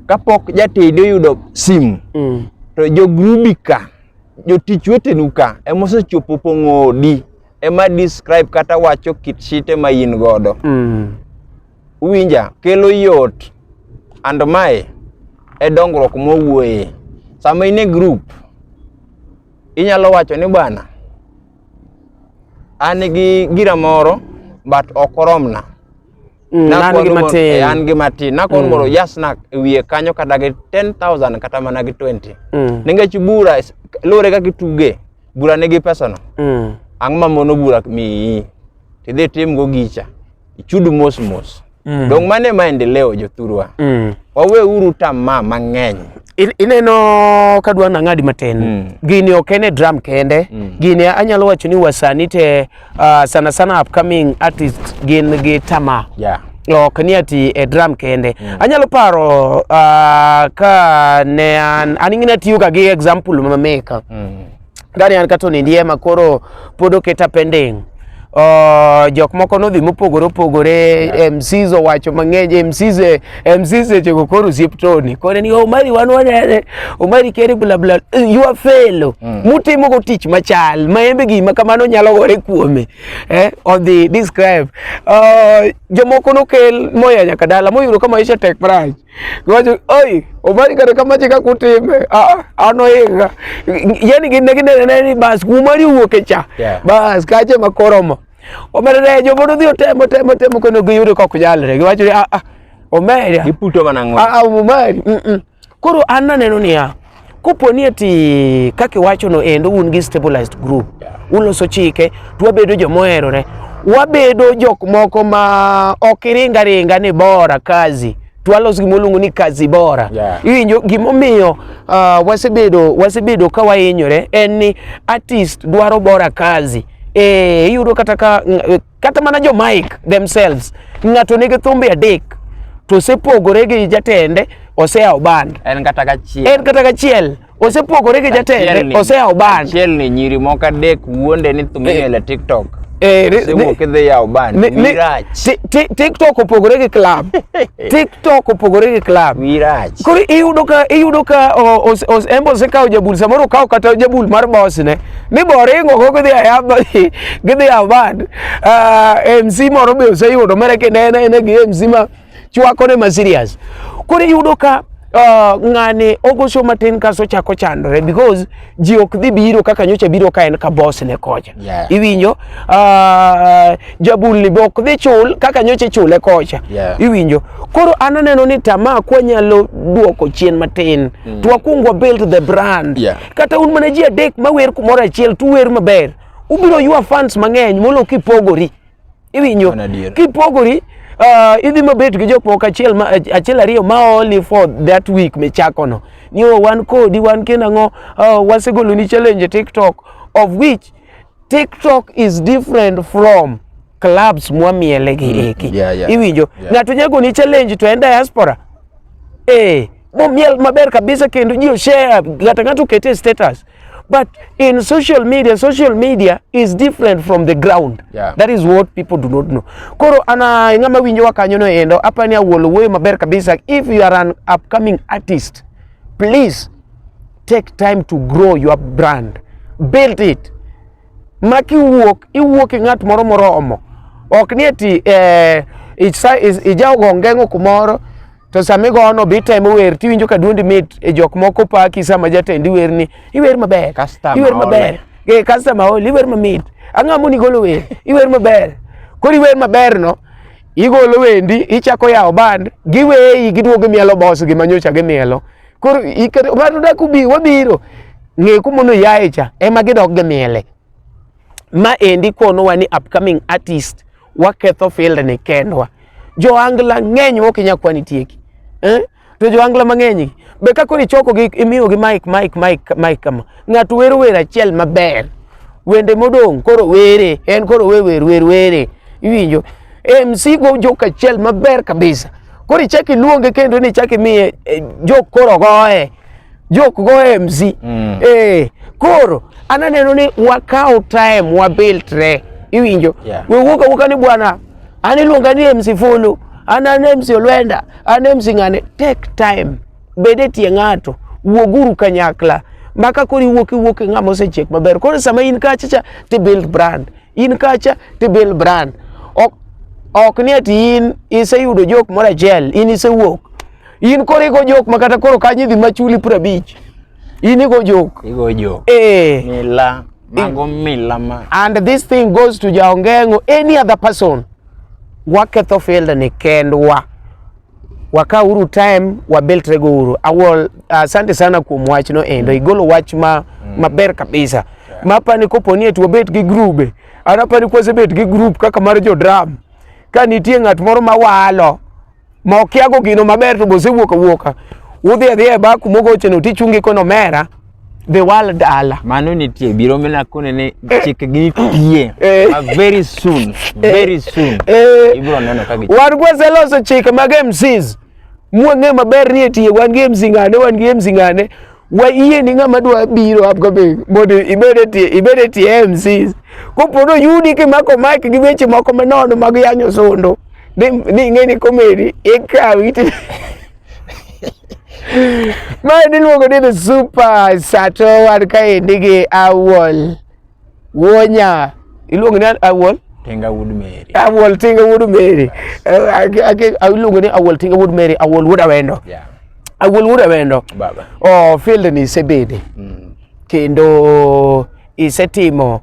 kapok jatedi oyudo simu mm. to jogrubi ka jotich wetenu ka emosechopo pong'o odi ema describe kata wacho kit shite ma in godo mm. Uwinja? Kelo yot and mae e dongruok mowuoye. Sama in e group, inyalo wacho ni bwana, an gi gira moro but ok oromna. Mm, an gi matin. An gi matin. Nakon mm. moro jasnak e wiye kanyo kata gi 10,000 kata mana gi 20. Mm. Ningech bura lure kaka ituge, bura nigi pesano. Mm. Ang'o ma mono bura miyi? Tidhi timgo gicha. ichud mos mos mm. dong mane maendeleo jothurwa mm. wawe uru tamaa mang'eny ineno kadwa nang'adi matin mm. gini ok en e drum kende mm. gini anyalo wacho ni wasani te uh, sana sana upcoming artist gin gi tamaa yeah ok ni ati e drum kende mm. anyalo paro uh, ka ne an an ing'e natiyo ga gi example ma meka mm. Gani an kato ni ndiema koro pod oketa pending. Uh, jok moko nodhi mopogore opogore yeah. MCs owacho mang'eny MCs e, MCs e chego koro siep toni kore ni Omari wan wanene Omari kere bla bla eh, you are fellow mm. mutimo go tich machal ma embe gima kamano nyalo gore kuome eh on the describe uh, jomoko nokel moya nyaka dala moyudo kama isha tek price Gwacho, oi, obali kare kama chika kutime. Ah, ano inga. Yani gine gine ne ni bas kumari uoke cha. Yeah. Bas kache makoromo. Omerere jo bodo dhi otemo temo temo kono giyudo kok jalre. Gwacho ah ah. Omeri. Giputo mana ng'o. Ah, omeri. Ah, mm. -mm. Koro an naneno niya. Kopo ni eti kaka iwachono endo un gi stabilized group uloso chike to wabedo joma oherore, wabedo jok moko ma ok iringa ringa ni bora kazi to walos gima waluongo ni kazi bora yeah. Iwinjo gimomiyo uh, wasebedo wasebedo ka wahinyore en ni artist dwaro bora kazi eh, iyudo kata ka kata mana jo Mike themselves ng'ato nigi thumbe adek to osepogore gi jatende oseyawo band en kata gachiel en kata gachiel osepogore gi jatende oseyawo band achiel ni nyiri moko adek wuonde ni thumbe eh. e TikTok eh, TikTok opogore gi club. TikTok opogore gi club. Wirach. Koro iyudo ka iyudo ka Embo osekawo jabul samoro okawo kata jabul mar boss ne. ni boringo go gidhi ayaba gidhi award uh, eh, MC moro be oseyudo mere kinene ene gi MC ma chwako ne ma serious koro iyudo ka Uh, ng'ani ogoso matin kaso chako chandore because ji ok dhi biro kaka nyocha biro ka en ka boss ne kocha yeah. iwinjo uh, jabulni be ok dhi chul kaka nyocha chule kocha yeah. iwinjo koro an aneno ni tamaa kwanyalo duoko chien matin mm. to wakwong wabuild the brand yeah. kata un mana ji adek mawer kumoro achiel tuwer maber ubiro ywa fans mang'eny molo kipogori iwinjo kipogori uh, idhi mabet gi jok moko achiel ma, achiel ariyo ma only for that week michako no ni oh, wan kodi wan kendo ang'o uh, oh, wasegolo ni challenge tiktok of which tiktok is different from clubs mwamiele gi mm, eki yeah, yeah, iwinjo yeah. ng'ato nyago ni challenge to en diaspora eh momiel maber kabisa kendo ji share ng'ato ng'ato kete status but in social media social media is different from the ground yeah. that is what people do not know koro ana ng'ama winjo wa kanyo no endo apani awuolo wuoyo maber kabisa if you are an upcoming artist please take time to grow your brand build it ma kiwuok iwuok i ng'at moro moromo ok ni eti eh, ijaogo ngeng'o kumoro to sama igono be itemo wer tiwinjo ka duondi mit e jok moko paki sama jatendi werni iwer maber iwer maber e customer ol iwer mamit ang'o moni golo wer iwer maber koro iwer maber no igolo wendi ichako yawo band giweyi giduogo mielo bos gi manyocha gimielo koro ng'ato dak ubi wabiro ng'e kumono yaye cha ema gidok gi miele ma endi konowa ni upcoming artist waketho field ni kendwa joangla ng'eny ok inyal kwani tieki eh? to joangla mang'eny be ka koro ichokogi imiyogi mike mike mike mike kama ng'ato wero wer achiel maber wende modong' koro were en koro we wer wer were iwinjo MC go joka achiel maber kabisa Koro ichaki luonge kendo ni ichaki miye eh, jok koro goye. Jok goye mzi. Mm. Eh, koro ananeno ni wakaw time wabiltre. Iwinjo? Yeah. We wuoka wuoka ni bwana an iluonga ni MC Fulu, an an MC Olwenda, an MC ng'ane. Take time. Bede tie ng'ato. Wuoguru kanyakla. Maka koro iwuok iwuok ng'ama osechiek maber. Koro sama in kacha cha ti build brand. in kacha to Bill Brand ok ok ni ati in iseyudo jok moro achiel in isewuok in koro igo jok ma kata koro kanyo idhi machuli piero abich in igo jok igo jok eh mila mago mila ma and this thing goes to jaongengo any other person waketho field ni kendwa waka uru time wabeltre go uru awol asante uh, sana kuom wach no endo mm. igolo wach ma mm. maber kabisa yeah. mapa ni kopo ni eti wabet gi grube anapa ni kwase bet gi group kaka mar jo dram ka nitie ng'at moro ma walo ma okiago gino maber to bose wuoka wuoka udhi adhi e baku mogocheno tichungi kono mera the world ala mano nitie biro mena kone ne eh. chike gi pie eh. ah, very soon eh. very soon ibro neno ka gi wan kwa seloso chike mag MCs mwang'e maber ni etiye wan gi MC ngane wan gi MC ngane wa iye ni ng'ama dwa biro apka be mondo ibed etie ibed etie MCs kopodo yudi ki mako mic gi weche moko manono mag yanyo sondo ni ng'e ni komedi ikawi Mae niluongo ni the super sato wan kaendi gi awol wonya iluongo ni awol Tinga Wood Mary. Awol Tinga Wood Mary. Iluongo ni Awol Tinga Wood Mary, Awol Wuod Awendo. Yeah. Awol Wuod Awendo. Baba. Oh, field ni isebede. Mm. Kendo isetimo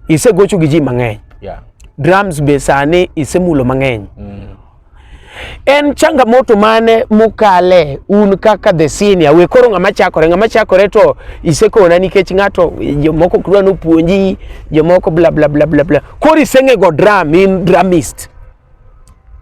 isegocho gi ji mang'eny. Yeah. Drums be sani isemulo mang'eny. Mm. en changamoto mane mukale un kaka the senior we koro ng'ama chakore ng'ama chakore to isekona nikech ng'ato jomoko kdwa nopuonji jomoko bla bla bla bla bla koro iseng'ego dram in dramist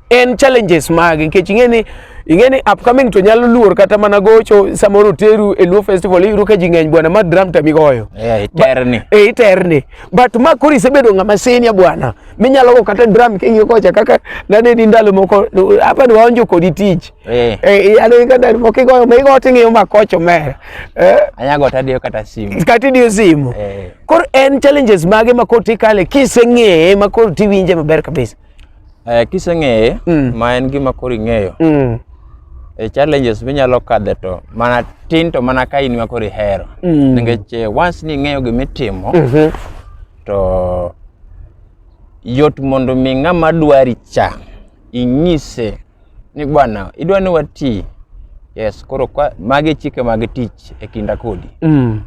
en challenges mage nikech ing'e ni ing'e ni upcoming to nyalo luor kata mana gocho samoro teru e Luo festival iyudo ka ji ng'eny bwana ma dram tamigoyo yeah, iterni. Ba, e, iterni but ma koro isebedo ng'ama senior bwana minyalo go kata drum king'iyo kocha kaka naneni ndalo moko hapa ni waonjo kodi tich eh. eh, ano kata mokigoyo migo ting'iyo makoch omera eh? anyago tadiyo kata simu kata idiyo simu eh. koro en challenges mage ma koro tikale kiseng'eye ma koro tiwinje maber kabisa eh, kiseng'eye mm. ma en gima koro ing'eyo mm. e challenges minyalo kadhe to mana tin to mana ka in ma koro ihero mm. nikech eh, once ning'eyo gima itimo mm -hmm. To yot mondo mi ng'ama dwari cha inyise ni bwana idwa ni wati yes koro kwa, magi chike mag tich e kinda kodi Mm.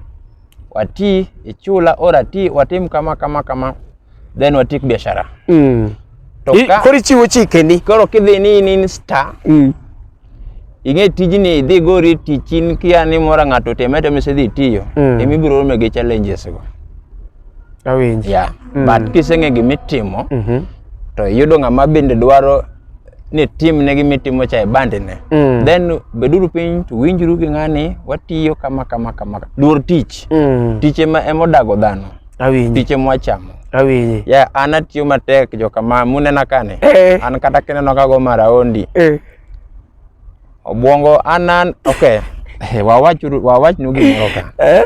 wati ichula or ati watim kama kama kama then watik biashara Mm. to I- ka Koro ichiwo chikeni. koro kidhi ni in in star Mm. ing'e tijni idhi gori tich in kia ni mora ng'ato teme teme isedhi tiyo Mm. imi biro rome gi challenges go Awinji. yeah Mm. but kiseng'e gimitimo Mhm. to iyudo ng'ama bende dwaro ni tim ne gimitimo cha e bandi ne Mm. then beduru piny to winjuru gi ng'ani watiyo kama kama kama luor tich Mm. tich ema ema odago dhano Awinji. tich ema wachamo Awinji. ya an atiyo matek jokama munena kani Eh. an kata kineno kago maraondi Eh. Obwongo an an okay. Eh, wawach wawach nu gimoro ka. Eh?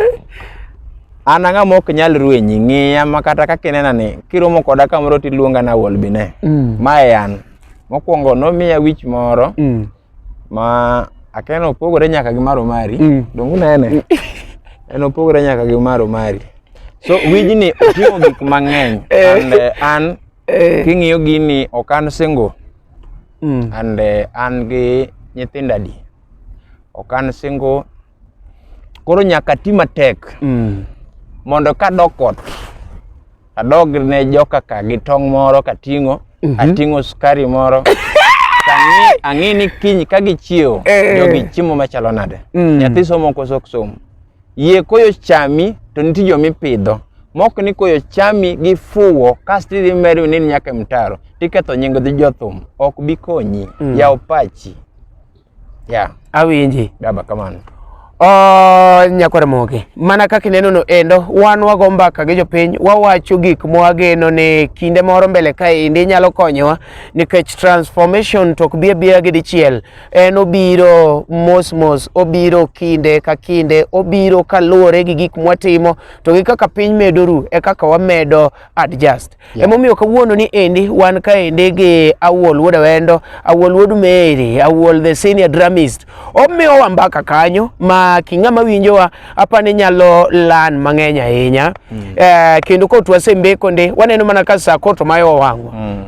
An ang'a mok nyal ruenyi ng'iya ma kata kaka inena ni kiromo koda kamoro tiluonga na wolbine. Mm. Mae an. Mokwongo nomiya wich moro mm. ma akeno opogore nyaka gi maro mari. Mm. Dongu nene. Mm. en opogore nyaka gi maro mari. So wijni oting'o gik mang'eny. Eh. And eh, an eh. king'iyo gini okan single. Mm. And uh, an gi nyithindo adi. Ok an single. Koro nyaka ti matek. Mm. Mondo ka dok ot, adog ne joka ka gi tong' moro kating'o, mm -hmm. ating'o sukari moro. ang'e ni kiny ka gichiewo eh. jogi chiemo machalo nade mm. nyathi somo koso ok som Yie koyo chami to nitie jo mipidho mok ni koyo chami gi fuwo kasto idhi medo ni nyaka mtaro tiketho nying dhi jothum ok bi konyi mm. yaw pachi ya yeah. awinji baba kamano Oh, nyakwar moge mana kaka ineno no endo wan wago mbaka gi jopiny wawacho gik mwageno ni kinde moro mbele kae indi nyalo konyowa nikech transformation to ok bi abiya gi dichiel en obiro mos mos, obiro kinde ka kinde, obiro kaluwore gi gik mwatimo to gi kaka piny medo ru e kaka wamedo adjust. Yeah. Emomiyo kawuono ni endi wan ka endi gi Awuol Wuod Awendo, Awuol Wuod Mary, Awuol the senior dramist. Omiyo wa mbaka kanyo ma king'ama winjowa apa ni nyalo lan mang'eny ahinya. Mm. Eh, kendo kot wasembeko ndi waneno mana ka sa kot mayo wang'wa. Mm.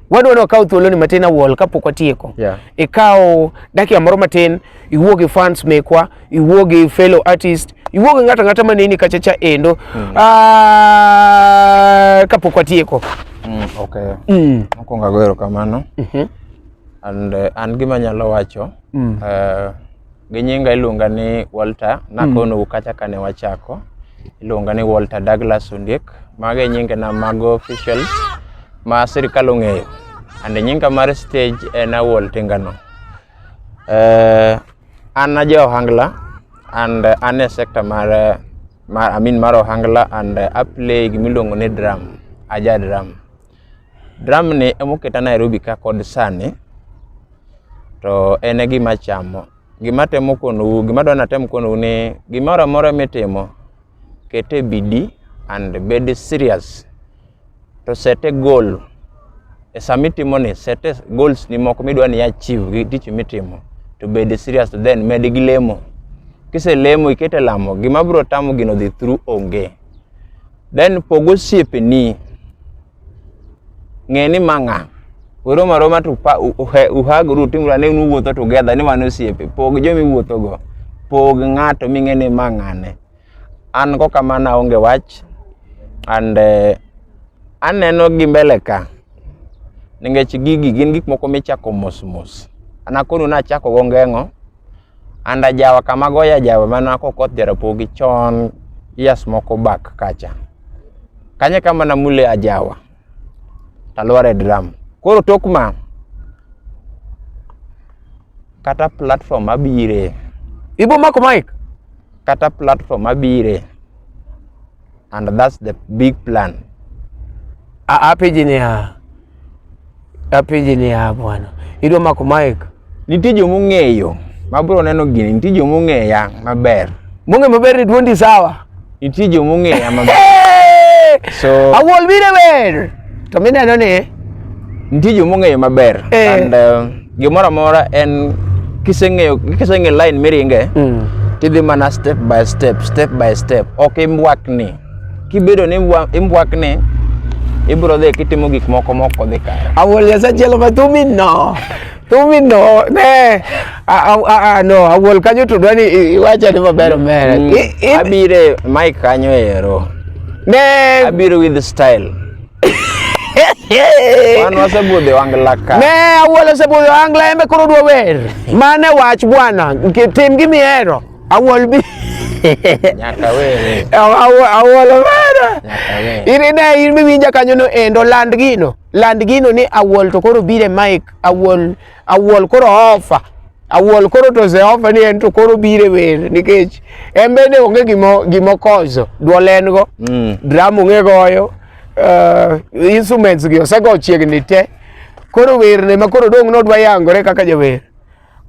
Wadwa ni wakaw thuoloni matin awuol kapok watieko. Yeah. Ikaw dakika moro matin, iwuo gi fans mekwa, iwuo gi fellow artist, iwuo gi ng'ato ang'ata maneni kachacha endo mm. Ah, kapok watieko. Mm, okay. Mm. Mokwongo ago erokamano. Mm -hmm. And uh, an gima nyalo wacho mm. uh, Gi nyinga iluonga ni Walter, nakono mm. kacha kane wachako. Iluonga ni Walter Douglas Ondiek. Mago e nyinge na mago official ma sirkal ong'eyo. And nyinga mar stage en Awol Tingano. Uh, eh, an aja Ohangla and uh, an e sector mar, eh, mar I mean mar Ohangla and uh, aplay gimiluongo ni drum, aja drum. Drum ni emoketa Nairobi ka kod sani. to en e gima chamo. Gima atemo konou, gima adwa natem konou ni gimoro amora mitimo, ket e bidii and bed serious. To set a goal. E sama itimoni, set a goals ni moko midwa ni achieve gi tich mitimo. To bed serious to then med gi lemo. Kiselemo iket e lamo, gima biro tamo gino dhi through onge. Then pog osiepeni. ng'e ni ma ng'a uroma roma to uhagru timura ne uwuotho together ni wan osiepe pog jomi wuotho go pog ng'ato ming'e ni ma ng'ane an go kamano aonge wach and uh, aneno gi mbele ka nikech gigi gin gik moko michako mos mos anakonu nachako go ngeng'o and ajawa kama goyo ajawa mana kokoth jarapogi chon years moko back kacha kanye kama namule ajawa talware drum koro tok ma kata platform abire ibo mako mic kata platform abire and that's the big plan. Apeji ni ha apeji ni ha bwana, idwa mako mic, nitie joma ong'eyo ma bro neno gini, nitie joma ong'eya maber, mong'e maber ni duondi sawa, nitie joma ong'eya maber so awol bire ber to mineno ni nitie joma ong'eyo maber eh. and uh, Gimoro amora en kiseng'eyo kiseng'e line miringe mm. tidhi mana step by step step by step ok imbwakni kibedo ni imbwakni ibro dhi kitimo gik moko moko dhi kare awol yasachielo ma thumi no thumi no ne no awol kanyo to dwani iwacha ni maber omera mm. abire mike kanyo ero ne abiro with style Wan wasebudhi wangla ka. Ne awuola osebudhi wangla embe koro dwa wer. Mane wach bwana, tim gi mihero. Awuol bi. Nyaka were. Awuola were. Nyaka were. Iri ne in miwinja kanyo no endo land gino. Land gino ni awuol to koro bire mic awuol Awuol koro ofa. Awuol koro to Jehova ni en to koro bire wer nikech en bende onge gimo gimo kozo duol en go mm. drum onge goyo uh, instruments gi osego chiegni te koro wer ne ma koro dong nodwa yangore kaka jawer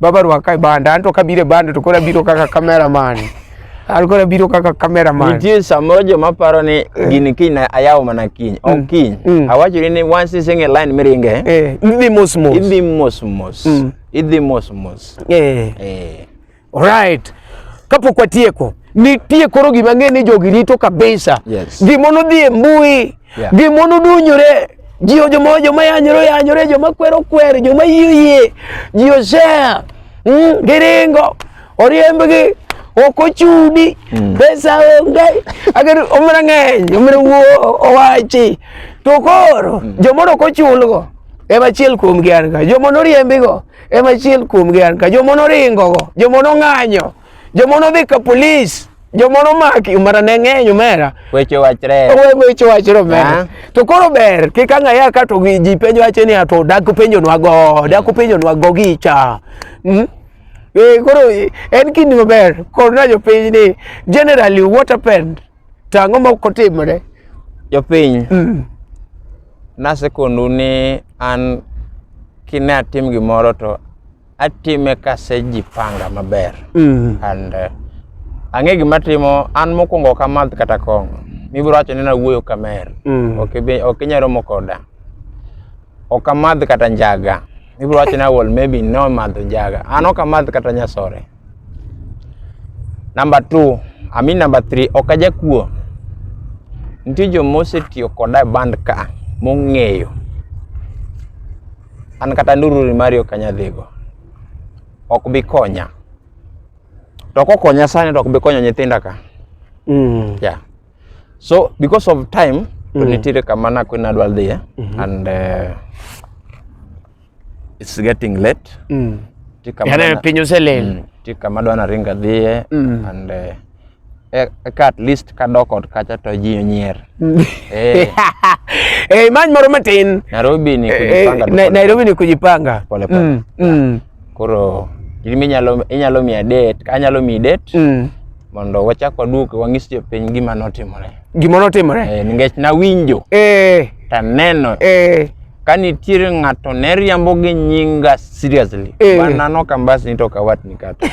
baba rwaka e banda anto kabire banda to koro abiro kaka cameraman alikuwa nabiro kaka cameraman. Nitie samoro joma paro ni eh. gini kiny ayawo mana kiny. Ok mm. kiny. Mm. Awachoni ni once ising e line miringe. Eh, idhi mos mos. Idhi mos mos. Mm. Idhi mos mos. Eh. Eh. Alright. Kapok watieko, nitie koro gima ng'e ni jogi rito kabisa. Yes. Gimo nodhi e mbui. Yeah. Gimo nodunyore. Ji joma joma yanyore yanyore, joma kwero kwero, joma yie yie. Ji osea. Mm, giringo. oriembgi ok ochudi mm. pesa onge agar omra ng'eny omra wuo owachi to koro mm. jomoro ok ochulgo ema achiel kuomgi an ka joma noriembigo ema achiel kuomgi an ka joma noringogo joma nong'anyo joma nodhi ka polis joma nomaki umara ne ng'eny umera weche wachre weche wachre umera to koro ber kik ang' aya ka to ji penjo wache ni to dak penjonwa go dak penjonwa go gicha hmm? Eh, koro en kindi maber korna jopiny ni generally what happened to ang'o ma okotimore jopiny mm. nasekondu ni an kine atim gimoro to atime kasejipanga maber mm. and uh, ang'e gima timo an mokwongo ok amadh kata kong'o mibiro wacho ni nawuoyo kamer mm. ok inyalo romo koda ok amadh kata njaga Ibro wacho na wol maybe no madho njaga. An ok amadh kata nyasore. Number two, I mean number three, ok ajakuo. Nitie joma osetiyo koda e band ka mong'eyo. An kata ndururi mari ok anyadhigo. Ok bi konya. To kokonya sani to ok bi konyo nyithinda ka. Mm. Yeah. so because of time mm -hmm. nitiere kama nakwe nadwa dhiye mm -hmm. and uh, it's getting late mm. Yaani piny oselel mm. ti kama dwa naringa dhiye mm. and uh, eh, eka at least kadok ot kacha to ji onyier mm. eh. eh, many moro matin Nairobi ni eh, kujipanga eh, Nairobi ni kujipanga pole pole mm. Mm. koro inyalo inyalo miya date anyalo miyi date mm. mondo wachak waduog wang'is jopiny gima notimore gima notimore eh, nikech nawinjo eh. taneno eh. ka nitiere ng'ato ne riambo gi nyinga seriously eh. banano kambas ni to kawatni kata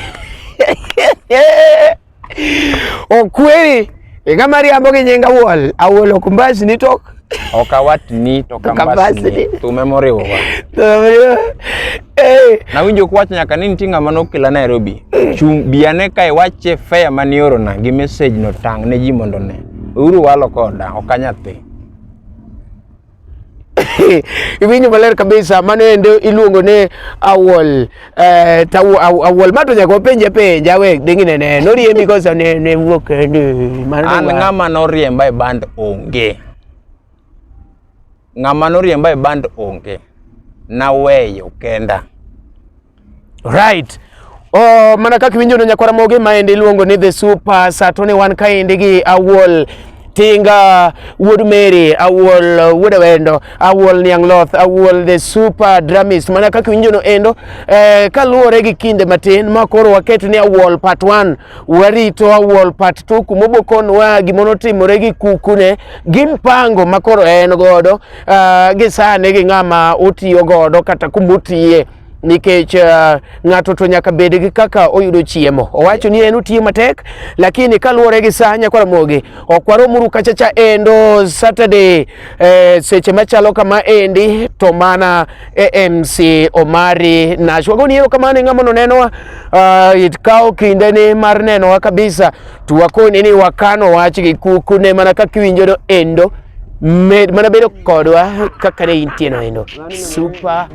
okweri ing'ama riambo gi nyinga wuol awuol ok mbas ni tok okawatni to kambasni thume moriwowa eh. nawinjo kwach nyaka ni nitie ng'ama nokela nairobi chung' biane kae wache fea mane orona gi message no tang' ne ji mondo ne uru walo koda ok anyathi iwinjo maler kabisa mano ende iluongo ni awol Eh, ta awol ma to nyaka wapenje penja we dingi ne ne no riembi kosa ne ne wuok ndi an ng'ama no riemba e band onge ng'ama no riemba e band onge na weyo kenda right Oh, mana kaka iwinjono nyakwara mogi maendi iluongo ni the super sato ne wan kaendi gi awol Tinga, Wood Mary, Awol, Wood Awendo, Awol Niangloth, Awol the super drumist. Mana kaka winjo no endo, eh, kaluwore gi kinde matin ma koro waket ni Awol part 1, warito Awol part 2 kumobokon wa gimono timore gi kukune, gi mpango ma koro en godo, uh, gi sane gi ng'ama otiyo godo kata kumotiye. nikech uh, ng'ato to nyaka bed gi kaka oyudo chiemo. Owacho ni en otiyo matek, lakini kaluwore gi saa nyakwara mogi ok waromuru kachacha endo Saturday eh, seche machalo kama endi to mana AMC e Omari Nash. Wagoni ero kamano ng'ama nonenowa uh, ah, itkawo kinde ni mar nenowa kabisa to wakoni ni wakano wach gi kuku ne mana kaka iwinjono endo med mana bedo kodwa kaka ne intieno endo super